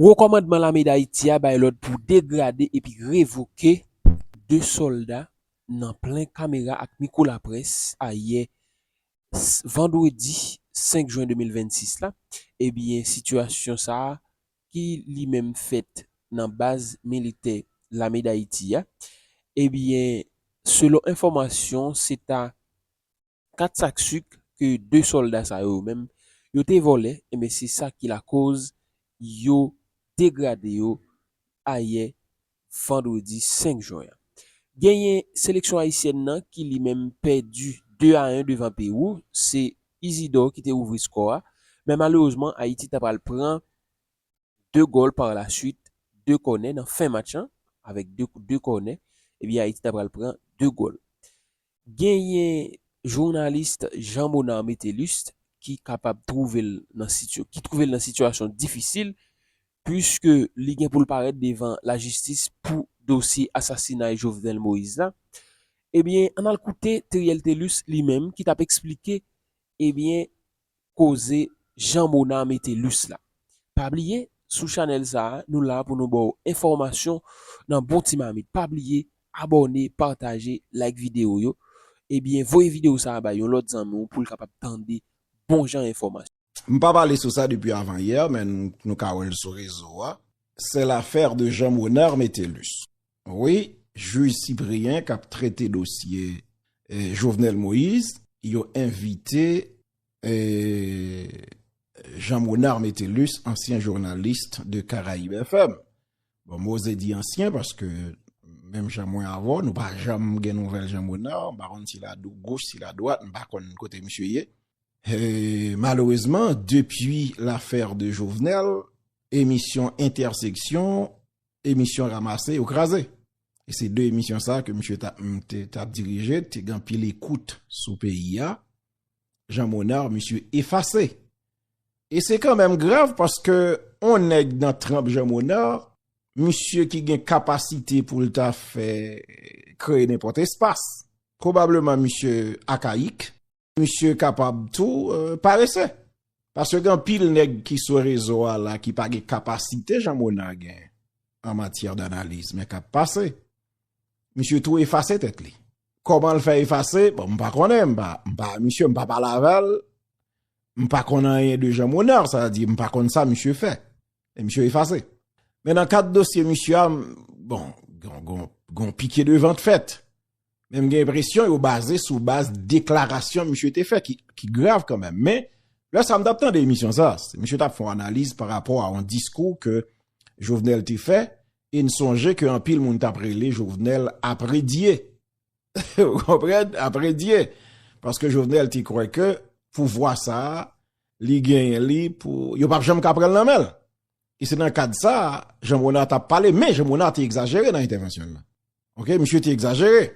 Wo kòmandman lame Dayiti a bay lòd pou degrade epi revoke 2 sòlda nan plen kamera ak mikwo laprès ayè vandredi 5 jwen 2026 la, ebyen sitiyasyon sa ki li menm fèt nan baz militè lame Dayiti a, ebyen selon enfòmasyon se ta 4 sak suk ke 2 solda sa yo menm yo te volè enben se sa ki lakoz yo degrade yo ayè vandredi 5 jwen an. Genyen seleksyon ayisyèn nan ki li menm pèdi 2 a 1 devan Pewou, se Isidor ki te ouvri skò a men malerezman Ayiti ta pral pran 2 gòl par la suite 2 kònè nan fen match lan avèk 2 kout de kònè ebyen Ayiti ta pral pran 2 gòl. Genyen journaliste Jean Monard Metellus ki kapab twouve l nan sityo ki twouve l nan sitiyasyon difisil puiske li gen pou l parèt devan lajistis pou dosye asasinay Jovenel Moïse la ebyen ann al koute Theriel Thelus li menm ki t ap esplike ebyen koze Jean Mona mete lus la. Pa bliye sou chanèl sa nou la pou nou baw enfòmasyon nan bon ti mamit pa bliye abòne pataje like video yo ebyen voye video sa bay yon lòt zanmi w poul kapab tande bon jan enfòmasyon. M pa pale sou sa depi avan yè men nou ka wèl sou rezo a. Se lafè de Jean Mona mete lus wi jij Cyprien kap trete dosye Jovenel Moïse yo envite Jean Monard Metellus, ansyen journaliste de Caraïbe FM. Bon, mwen ose di ansyen, paske menm jan mwen avò, nou pa janm gen nouvel Jean Monard, mwen pa konn si la dou gouch, si la dwat, mwen pa konn kote misye ye. Malerezman, depi l'affaire de Jovenel, emisyon interseksyon, emisyon ramase, yo kraze. E se de emisyon sa ke misye tap dirije, te gen pil ekout sou peyi a. Jean Monard misye efase. E se kan menm grav paske on nèg nan tranp Jean Monard, misye ki gen kapasite pou l ta fè kreye nenpòt espas. Pwobableman misye akayik, misye kapab tou parese. Paske gen pil nèg ki sou rezo a la ki pa gen kapasite Jean Monard gen an matyè danaliz men kap pase. Misye tou efase tèt li. Koman l fè efase? Bon, m pa konnen, m pa, m pa, misye m pa pale avè l, m pa konnen anyen de Jean Monard, sa di m pa konnen sa misye fè. E misye efase. Men nan kat dosye misye a, bon, gon, gon, gon pike de vant fèt. Men m gen presyon yo baze sou baz deklarasyon misye te fè ki, ki grav kanmèm. Men, lè sa m tap tande emisyon sa, misye tap fon analiz pa rapò a yon diskou ke Jovenel te fè, E n sonje ke anpil moun t ap rele Jovenel apre Dye. Ou konprann? Apre Dye. Paske Jovenel te kwè ke pouvwa sa a, li genyen li pou, yo p ap janm ka pran l nan men l. E se nan kad sa a, Jean Monard t ap pale. Men, Jean Monard te egzajere nan entèvansyon l la. Ok, misye te egzajere.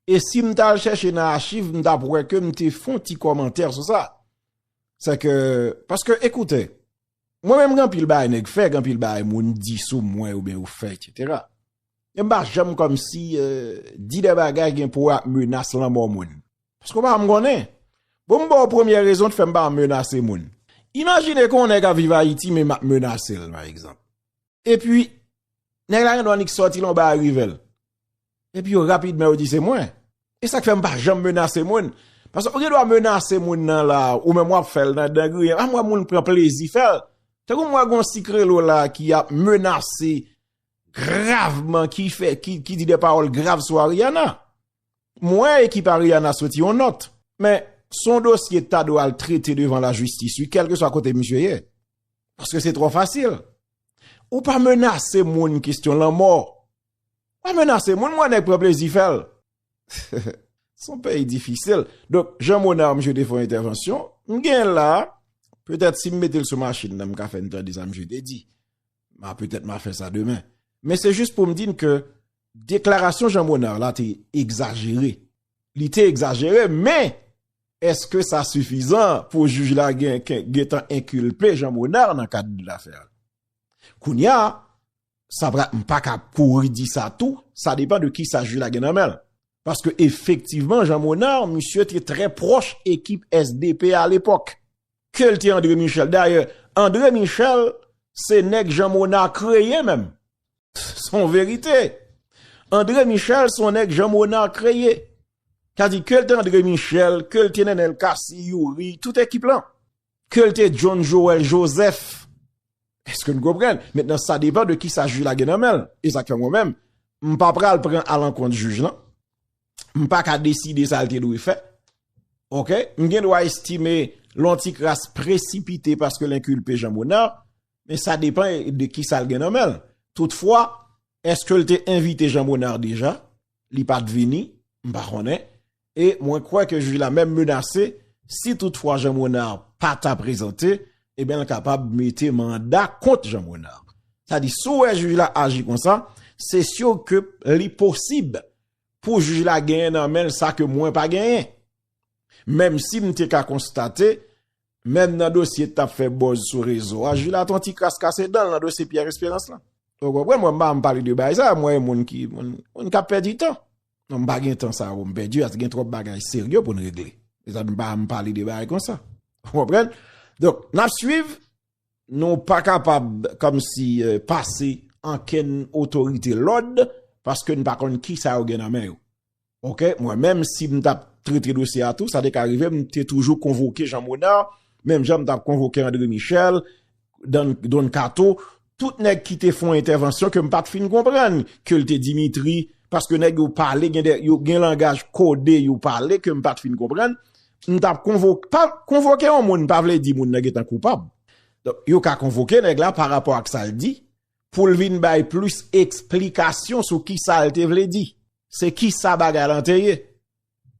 E si m ta al chèche nan achiv, m t ap wè ke m te fon ti kòmantè sou sa. Sè ke, paske, ekoute, Mwen menm gen anpil bagay nèg fè, gen anpil bagay moun di sou mwen oubyen yo fè etc. Mwen pa janm kòmsi di de bagay gen pou wè ak menas lanmò moun. Paske w pa janm konnen. Bon m ba w premye rezon ki fè m pa menase moun. Imajine ke yon nèg ap viv Ayiti men m ap menase l pa egzanp. Epi, nèg la gen dwa nik sòti lè yon bagay rive l. Epi yo rapidman yo di se mwen. E sa k fè m pa janm menase moun. Paske ou gen dwa menase moun nan la, ou menm w ap fè l nan dan griyen. An m wè moun pran plezi fè l. Tankou m wè gen yon sikrelo la ki ap menase gravman, ki fè, ki di de pawòl grav sou Ariana. M wè ekip Ariana soti yon nòt, men son dosye ta dwe al trete devan la jistis wi kèlke swa kote misye ye. Paske se twò fasil. Ou pa menase moun kestyon lanmò. Pa menase moun m wè nèg pran plezi fè l. Son peyi difisil. Donk Jean Monard misye te fè yon entèvansyon, m gen l la, petèt si m mete l sou machin nan m ka fè n tande sa misye te di. Ma petèt ma fè sa demen. Men se jis pou m di n ke Deklarasyon Jean Monard la te egzajere. Li te egzajere men eske sa sifizan pou jij la gen tan enkilpe Jean Monard nan kad de lafè a. Kounya sa pra m pa ka kouri di sa tou, sa depan de ki sa jij la gen nan men l. Paske efektivman Jean Monard misye te trè proch ekip SDP a lepok. Ke l te André Michel. Dayè André Michel se nèg Jean Monard kreye menm. Son verite. Andre Michel son nèg Jean Monard kreye. Sa di ke l te Andre Michel, ke l te Nenel Cassy, Youri, tout ekip lan. Ke l te John Joel Joseph. Eske n konprann? Mentnan sa depan de kisa jij la gen nan men l. E sa k fè mwen menm, m pa pral pran a lankont jij lan. M pa ka deside sa l te dwe fè. Ok? M gen dwa estime lon ti kras presipite paske l enkulpe Jean Monard. Men sa depan de ki sal gen nan menl. Tout fwa, eske l te envite Jean Monard deja? Li pat vini? M pa konnen. E mwen kwè ke jij la menm menase, si tout fwa Jean Monard pa ta prezante, e ben l kapab mete manda kont Jean Monard. Sa di, si w wè jij la aji konsa, se sur ke li posib pou jij la genyen nan menl sa ke mwen pa genyen. Menm si m te ka konstate, Menm nan dosye tap fè bòz sou rezo a, Jila ton ti kras kase danl nan dosye Pierre Esperance lan. Ou konprann mwen pa anm pale de bagay sa, mwen e moun ki, moun kap pèdi tan. Non m pa gen tan sa pou m pèdi as gen twòp bagay serye pou n regle. Se sa m pa anm pale de bagay konsa. Ou konprann? Donk, nap swiv, nou pa kapab kòm si pase ankenn otorite lòd paske n pa konn kisa yo gen nan men yo. Ok, mwen menm si m tap trete dosye a tou, sa te ka rive m te toujou konvoke Jean Monard, menm jan m tap konvoke André Michel, Don Kato, tout nèg ki te fon entèvansyon ke m pat fin konprann, ke l te Dimitri, paske nèg yo pale, gen langaj kode yo pale ke m pat fin konprann, m tap konvoke, pa konvoke yon moun pa vle di moun nan gen tan koupab. Yo ka konvoke nèg la pa rapò ak sa l di, pou l vin bay plis eksplikasyon sou ki sa l te vle di. Se ki sa bagay lan te ye?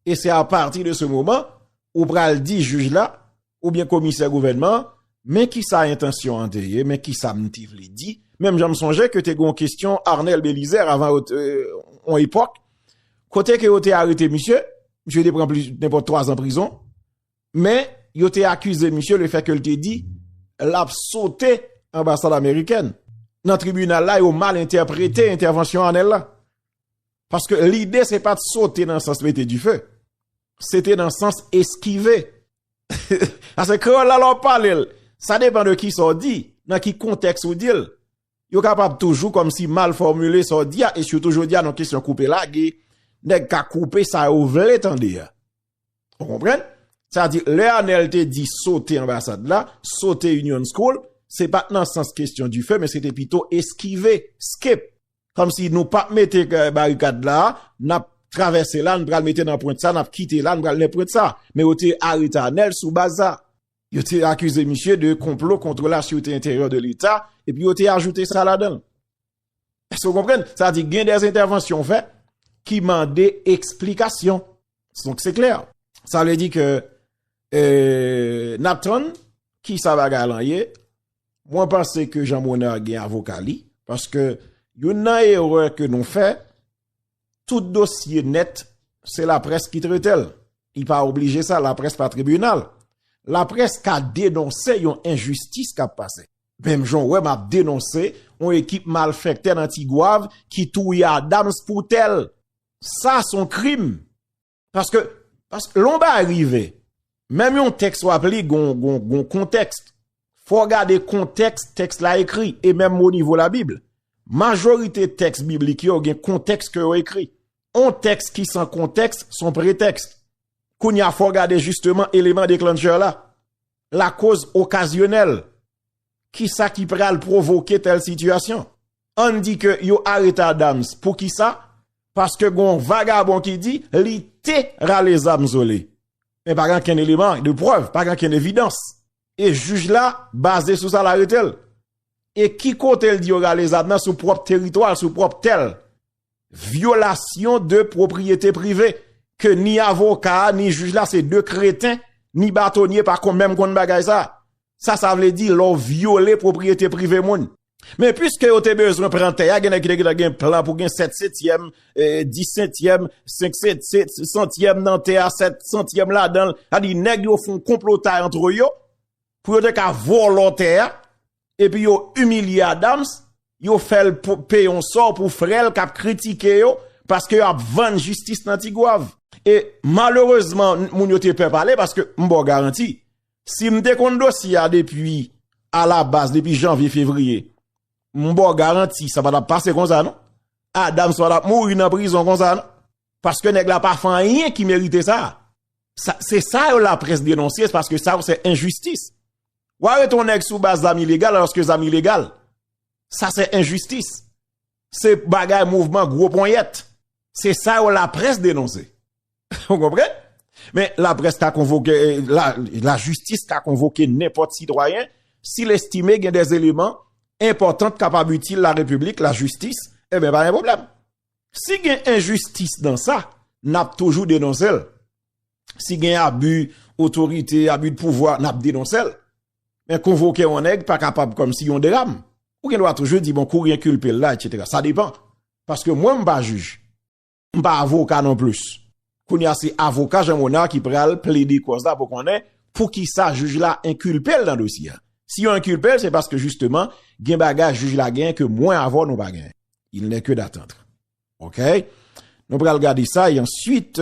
E se a pati de se moman, ou pral di jij la, ou byen komisè gouvènman, men ki sa entansyon an te ye, men ki sa m te vle di, menm jan m sonje ke te gon kestyon Arnel Belizaire avan yo te, on epòk, kote ke yo te arete misye, misye te pran plis, nenpòt 3 zan prizon, Men, yo te akize misye le fè ke l te di l ap sote anbasad amerikèn. Nan tribinal la, yo mal entèprete entèvansyon Anel la. Paske lide se pa t sote nan sans mete dife. Se te nan sans eskive. Ase kreyòl la lè w pale l, sa depan de ki sa w di, nan ki kontèks ou di l. Yo kapab toujou kòm si mal fòmile sa w di a, e sitou jodi a nan kesyon koupe lage, nèg ka koupe sa yo vle tande a. Ou konpren? Sa di, lè Anel te di sote anbasad la, sote Union School, se pat nan sans kestyon di fè, men se te pito eskive, skip. Kom si nou pap mete barikad la, nap travèse la, nou pral mete nan pwent sa, nap kite la, nou pral nan pwent sa. Men yo te arete Anel sou baz sa. Yo te akize misye de konplo kontre la syoute enteryè de leta, epi yo te ajoute sa ladan. Èske ou konprann? Sa di gen dè entèvansyon ou fè ki mande eksplikasyon. Donk se klè. Sa vle di ke n ap tann ki sa bagay lan ye. Mwen panse ke Jean Monard gen avoka li. Paske yon nan erè ke nou fè, Tout dosye nèt, se laprès ki trete l. Li pa oblije sa, laprès pa tribinal. Laprès ka denonse yon enjistis k ap pase. Menm jan w wè m ap denonse yon ekip malfèktè nan Tigwav ki touye Adams pou tèl. Sa s on krim. Paske, paske, lè w ba rive, menm yon tèks w ap li gon, gon, gon kontèks. Fò w gade kontèks tèks la ekri, e menm o nivo la Bib. Majorite tèks biblik yo gen kontèks ke yo ekri. On tèks ki san kontèks, son pretèks. Kounye a fò w gade jisteman eleman deklanchè la. Lakoz okazyonèl. Kisa ki pral provoke tèl sitiyasyon. Ann di ke yo arete Adams pou ki sa? Paske gon vagabon ki di li te rale zam zo li. Men pa gen ken eleman de prèv, pa gen ken evidans. E jij la baze sou sa l arete l. E ki kote l di yo rale zam nan sou pwòp teritwa l, sou pwòp tè l. Vyolasyon de pwopriyete prive ke ni avoka a, ni jij la se de kreten, ni batonye pa kon menm konn bagay sa. Sa sa vle di lè w vyole pwopriyete prive moun? Men piske yo te bezwen pran tè a, gen nèg ki te gentan gen plan pou gen sèt setyèm, dis setyèm, senk santyèm nan tè a, sèt santyèm ladan l. Sa di nèg yo fon konplotay antre yo pou yo te ka vòlò tè a epi yo imilye Adams, yo fè l peye yon sò pou frè l k ap kritike yo paske yo ap vann jistis nan Tigwav. E malerezman moun yo te pè pale paske m ba w garanti Si m te konn dosye a depi a la baz, depi janvye, fevriye, m ba w garanti sa pa t ap pase konsa non. Adams pa t ap mouri nan prizon konsa non. Paske nèg la pa fè anyen ki merite sa. Se sa yo laprès denonse, paske sa yo se enjistis. Ou arete yon nèg sou baz zam ilegal, alòske zam ilegal. Sa se enjistis. Se bagay mouvman gwo ponyèt. Se sa yo laprès denonse. Ou konprann? Men, laprès ka konvoke, lajistis ka konvoke nenpòt sitwayen, si l estime gen dè eleman enpòtan k kapab itil la repiblik, lajistis, e ben pa gen pwoblèm. Si gen enjistis nan sa, n ap toujou denonse l. Si gen abi otorite, abi de pouvwa, n ap denonse l. Men konvoke yon nèg pa kapab kòm si yon dram. Ou gen dwa toujou di bon kou rinkilpe l la, et cetera. Sa depan. Paske mwen m pa jij. M pa avoka non plis. Kounye a se avoka Jean Monard ki pral plede kòz la pou konnen poukisa jij la enkilpe l nan dosye a. Si yo enkilpe l se paske jisteman gen bagay jij la genyen ke mwen avè w nou pa genyen. Il n'est que d'attendre. Ok? Nou pral gade sa e answit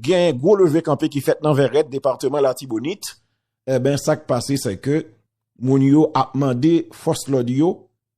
gen gwo leve kanpe ki fèt nan Vèrèt, departeman Latibonit. Eben sa k pase se ke moun yo ap mande fòs lòd yo